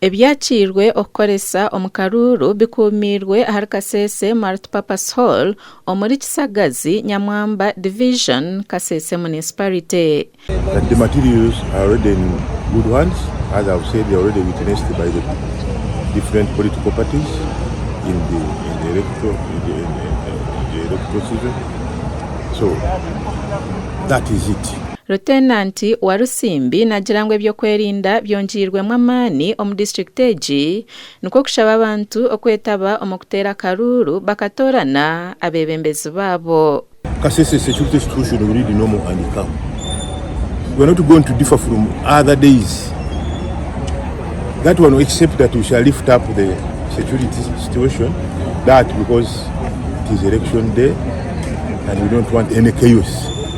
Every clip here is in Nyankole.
Ebyakiirwe okukoresa omu karuuru bikuumiirwe ahari Kasese Multipurpose Hall omuri Kisagazi, Nyamwamba Division, Kasese Municipality. Rutenanti Walusimbi nagira ngu ebyokwerinda byongiirwemu amaani omu district egi nikwo kushaba abantu okwetaba omu kuteera akaruuru bakatoorana abebembezi baabo. Kasese security situation will be normal and calm we are not going to differ from other days that one except that we shall lift up the security situation that because it is election day and we don't want any chaos.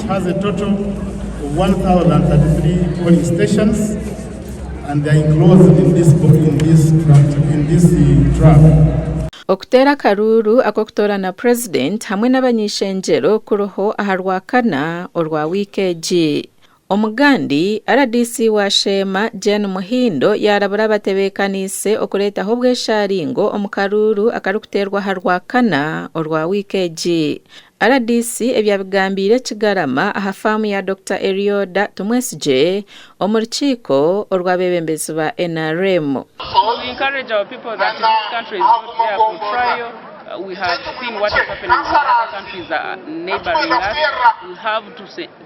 It has a total of one thousand and thirty three polling stations and they are enclosed in this bo in this tract in this tract. Okuteera akaruuru ak'okutoorana purezidenti hamwe n'abany'eishengyero kuriho aha Rwakana orwa wiiki egi. Omugandi, rdc wa Sheema, Jane Muhindo yaarabura abatebeekaniise okureetaho obweshaaringo omu karuuru akarikuteerwa aha Rwakana orwa wiiki egi. Rdc ebyabigambiire Kigarama aha faamu ya Dokita Erioda Tumwesigye omu rukiiko orw'abeebembezi ba nrm.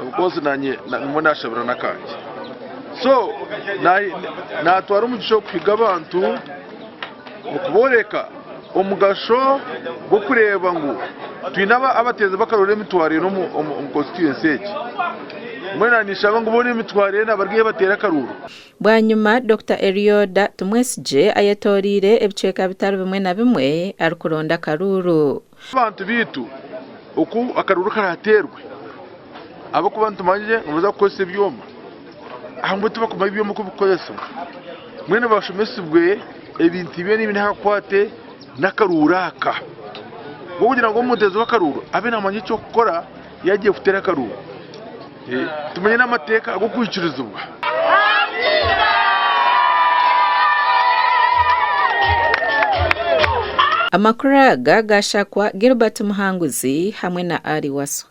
Omukozi nanye nimwo nashabira nakangye so natwara omugisha okuhiga abantu okuboreka omugasho gwokureba ngu twine abateezi bakarora emitwaro enu omu constituency egi mbwenu ninshaba ngu bona emitwaro enu abarugeyo bateere akaruuru. Bwanyima Dokita Erioda Tumwesigye ayetoreire ebicweka bitari bimwe na bimwe arikuronda akaruuru. Bantu baitu, oku akaruru karateerwe, ahabw'okuba nitumanyire ngu nibaza kukozesa ebyoma, aha mbwenu tibakumanya ebyoma oku bikukozesibwa, mbwenu bashomesibwe ebintu byona ebiri aha kukwate n'akaruuru aka, ahabw'okugira ngu omuteezi w'akaruuru abe namanya eki okukora yaagiye kuteera akaruuru. Tumanye n'amateeka ag'okwikirizibwa. Amakuru aga gaashakwa Gilbert Muhanguzi hamwe na Ali Wasswa.